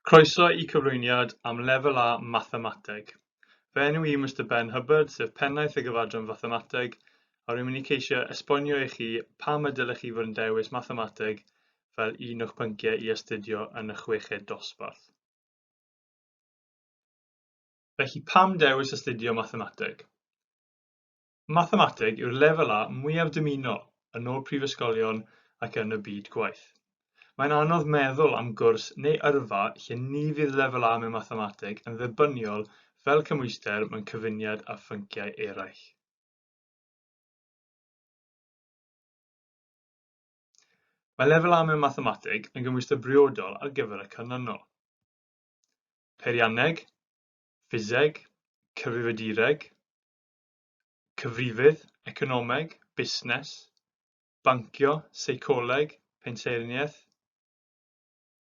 Croeso i cyflwyniad am Lefel A Mathemateg. Fy enw i Mister Ben Hubbard, sef Pennaeth y Gyfadran Fathemateg, a rwy'n mynd i ceisio esbonio i chi pam y dylech chi fod yn dewis mathemateg fel un o'ch pynciau i astudio yn y chweched dosbarth. Felly pam dewis astudio mathemateg? Mathemateg yw'r lefel A mwyaf dymunol yn ôl prifysgolion ac yn y byd gwaith. Mae'n anodd meddwl am gwrs neu yrfa lle ni fydd lefel A mewn mathemateg yn dderbyniol fel cymhwyster mewn cyfuniad â phynciau eraill. Mae lefel A mewn mathemateg yn gymhwyster briodol ar gyfer y canlynol. Peirianneg, ffiseg, cyfrifiadureg, cyfrifydd, economeg, busnes, bancio, seicoleg, pensaernïaeth,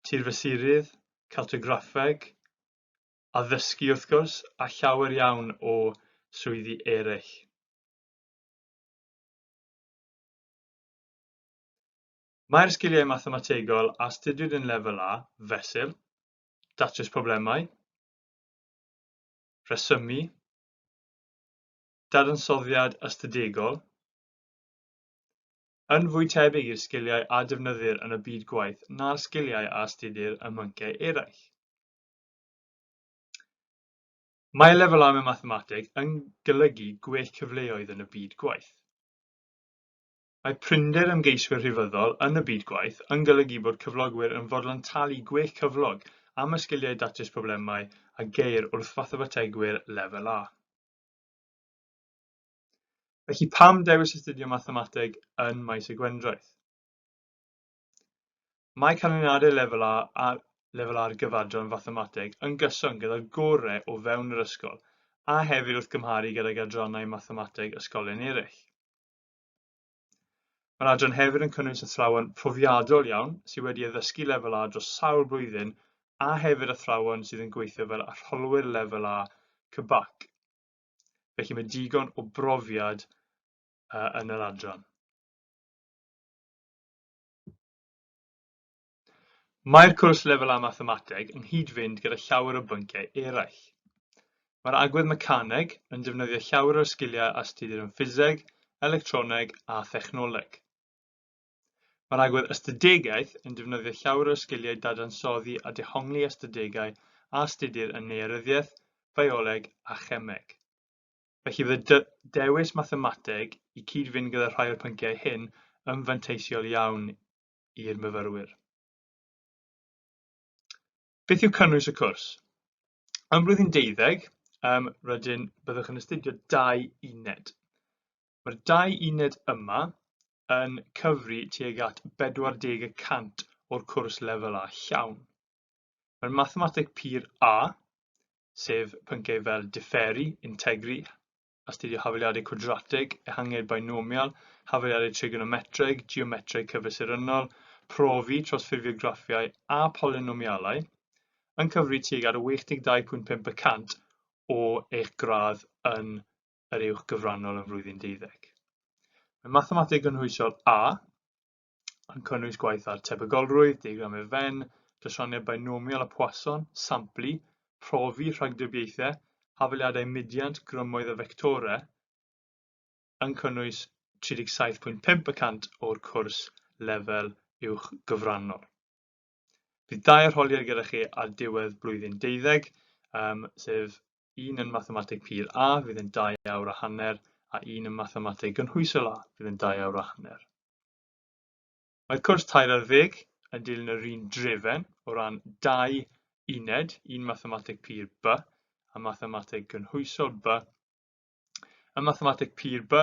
tirfesurydd, cartograffeg, addysgu wrth gwrs, a llawer iawn o swyddi eraill. Mae'r sgiliau mathemategol a astudiwyd yn lefel A, fesul, datrys problemau, rhesymu, dadansoddiad ystadegol, yn fwy tebyg i'r sgiliau a defnyddir yn y byd gwaith na'r sgiliau a astudir ym mhynciau eraill. Mae lefelau mewn mathemateg yn golygu gwell cyfleoedd yn y byd gwaith. Mae prinder ymgeiswyr rhifyddol yn y byd gwaith yn golygu bod cyflogwyr yn fodlon talu gwell cyflog am y sgiliau datrys problemau a geir wrth fathemategwyr Lefel A. Felly pam dewis astudio mathemateg yn Maes y Gwendraeth? Mae canlyniadau Lefel A a Lefel A'r gyfadran fathemateg yn gyson gyda'r gorau o fewn yr ysgol a hefyd wrth gymharu gydag adrannau mathemateg ysgolion eraill. Mae'r adran hefyd yn cynnwys athrawon profiadol iawn sydd wedi addysgu lefel A dros sawl blwyddyn a hefyd athrawon sydd yn gweithio fel arholwyr lefel A CBAC. Felly mae digon o brofiad uh, yn yr adran. Mae'r cwrs lefel A Mathemateg yn nghyd-fynd gyda llawer o bynciau eraill. Mae'r agwedd mecaneg yn defnyddio llawer o'r sgiliau astudir yn ffiseg, electroneg a thechnoleg. Mae'r agwedd ystadegaeth yn defnyddio llawer o'r sgiliau dadansoddi a dehongli ystadegau a astudir yn nearyddiaeth, fioleg a chemeg. Felly bydd y dewis mathemateg i cyd-fynd gyda rhai o'r pynciau hyn yn fanteisiol iawn i'r myfyrwyr. Beth yw cynnwys y cwrs? Ym mlwyddyn deuddeg, um, rydyn byddwch yn astudio dau uned. Mae'r dau uned yma yn cyfri tuag at 40 y cant o'r cwrs lefel A llawn. Mae'r mathemateg pur A, sef pynciau fel diferu, integru, astudio hafaliadau cwadrateg, ehangiad binomial, hafaliadau trigonometreg, geometreg cyfesurynnol, profi, trosffurfio graffiau a polynomialau, yn cyfri tuag at 82.5 y cant o eich gradd yn yr uwch gyfrannol yn flwyddyn deuddeg. Mae Mathemateg Gynhwysol A yn cynnwys gwaith ar tebygolrwydd, diagram i'r fen, drysorneb bainomial a Poisson, samplu, profi rhagdybiaethau, hafaliadau mudiant, grymoedd a fectorau, yn cynnwys 37.5 y cant o'r cwrs lefel uwch gyfrannol. Bydd dau arholiad gyda chi ar diwedd blwyddyn deuddeg, um, sef un yn mathemateg pur A fydd yn 2 awr a hanner a un yn mathemateg gynhwysol A fydd yn 2 awr a hanner. Mae'r cwrs tair ar ddeg yn dilyn yr un drefen o ran dau uned, un mathemateg pur B a mathemateg gynhwysol B, Ym Mathemateg Pur B,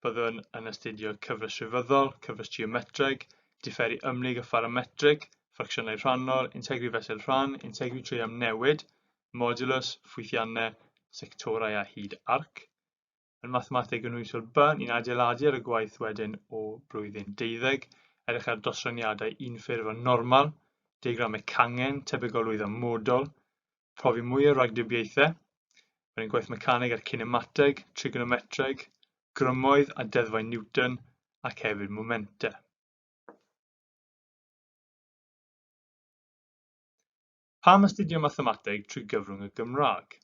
byddwn yn astudio cyfres rhyfeddol, cyfres geometreg, diferu ymhlyg a pharametrig, ffracsiynau rhannol, integri fesul rhan, integri trwy amnewid, modulus, ffwythiannau, sectorau a hyd arc. Yn Mathemateg Gynhwysol B, ni'n adeiladu ar y gwaith wedyn o blwyddyn deuddeg, edrych ar dosraniadau unffurf a normal, diagramau cangen, tebygolrwydd a modol, profi mwy o ragdybiaethau, roedd yn gwaith mecaneg a'r cinemateg, trigonometreg, grymoedd a deddfau Newton ac hefyd momentau. Pam astudio mathemateg trwy gyfrwng y Gymraeg?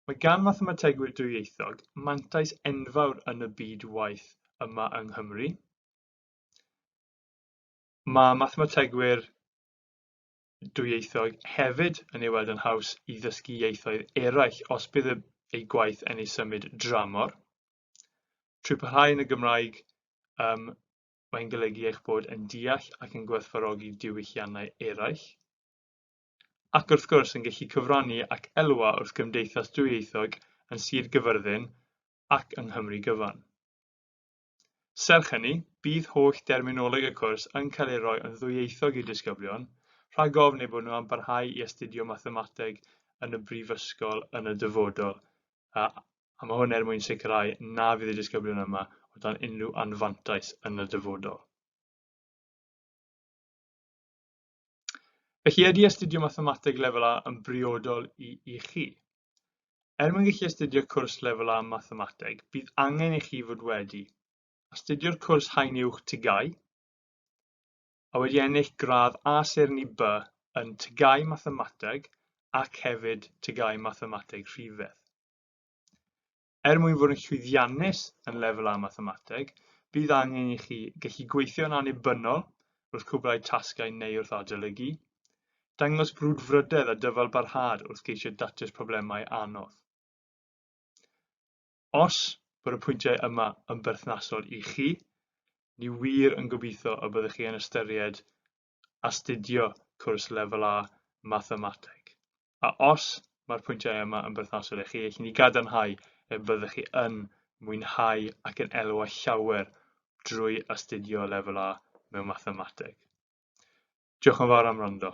Mae gan mathemategwyr dwyieithog mantais enfawr yn y byd waith yma yng Nghymru. Mae mathemategwyr dwyieithog hefyd yn ei weld yn haws i ddysgu ieithoedd eraill os bydd ei gwaith yn ei symud dramor. Trwy parhau yn y Gymraeg, um, mae'n golygu eich bod yn deall ac yn gwerthfarogi diwylliannau eraill ac wrth gwrs yn gallu cyfrannu ac elwa wrth gymdeithas dwyieithog yn Sir Gyfyrddin ac yng Nghymru gyfan. Serch hynny, bydd holl derminoleg y cwrs yn cael ei roi yn ddwyieithog i'r disgyblion, rhag ofn eu bod nhw am barhau i astudio mathemateg yn y brifysgol yn y dyfodol, a a mae hwn er mwyn sicrhau na fydd y disgyblion yma o dan unrhyw anfantais yn y dyfodol. Felly, ydy astudio Mathemateg Lefel A yn briodol i, i chi? Er mwyn gallu astudio cwrs Lefel A Mathemateg, bydd angen i chi fod wedi astudio'r cwrs Haen Uwch TGAU a wedi ennill gradd A Seirni B yn TGAU Mathemateg ac hefyd TGAU Mathemateg Rhifedd. Er mwyn fod yn llwyddiannus yn Lefel A Mathemateg, bydd angen i chi gallu gweithio yn annibynnol wrth cwblhau tasgau neu wrth adolygu, dangos brwdfrydedd a dyfalbarhad wrth geisio datrys problemau anodd. Os bod y pwyntiau yma yn berthnasol i chi, ni wir yn gobeithio y byddwch chi yn ystyried astudio cwrs Lefel A Mathemateg, a os mae'r pwyntiau yma yn berthnasol i chi, allwn ni gadarnhau y byddech chi yn mwynhau ac yn elwa llawer drwy astudio Lefel A mewn Mathemateg. Diolch yn fawr am wrando.